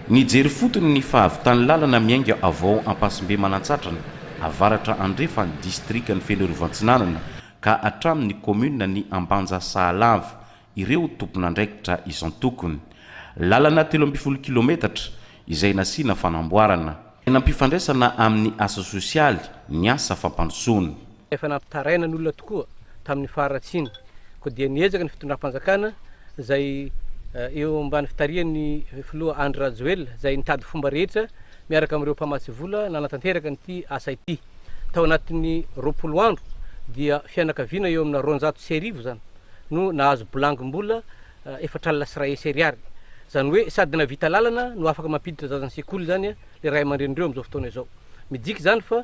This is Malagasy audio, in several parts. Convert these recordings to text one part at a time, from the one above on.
Nijery fotony ny fahavitan'ny lalana miainga avao Ampasimbe Manantsatrana, avaratra andrefan'ny distrikan'i Fenoarivoantsinanana ka hatramin'ny kaominina ny Ambanja Sahalava, ireo tompon'andraikitra isan-tokony. Lalana telo ambin'ny folo kilometatra izay nasiana fanamboarana. Tena ampifandraisana amin'ny asa sosialy ny asa fampandrosoana. Efa nampitaraina ny olona tokoa tamin'ny faharatsiana, koa dia niezaka ny fitondram-panjakana izay eo ambany fitarihan'ny filoha Andry Rajoelina, izay nitady fomba rehetra miaraka amin'ireo mpamatsy vola nanatanteraka an'ity asa ity. Tao anatin'ny roapolo andro dia fianakaviana eo amina roanjato sy arivo izany no nahazo bilangim-bola efatra alina sy iray hesy ariary. Izany hoe sady nahavita lalana no afaka mampiditra zaza ny sekoly izany ilay ray aman-drenin'ireo amin'izao fotoana izao. Midika izany fa.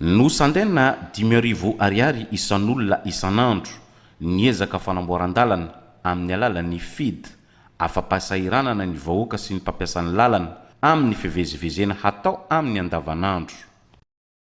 Nosandaina dimy arivo ariary isan'olona isan'andro ny ezaka fanamboaran-dalana amin'ny alalan'ny FIDH, afa-pahasahiranana ny vahoaka sy ny mpampiasa ny lalana, amin'ny fivezivezena hatao aminy andavanandro.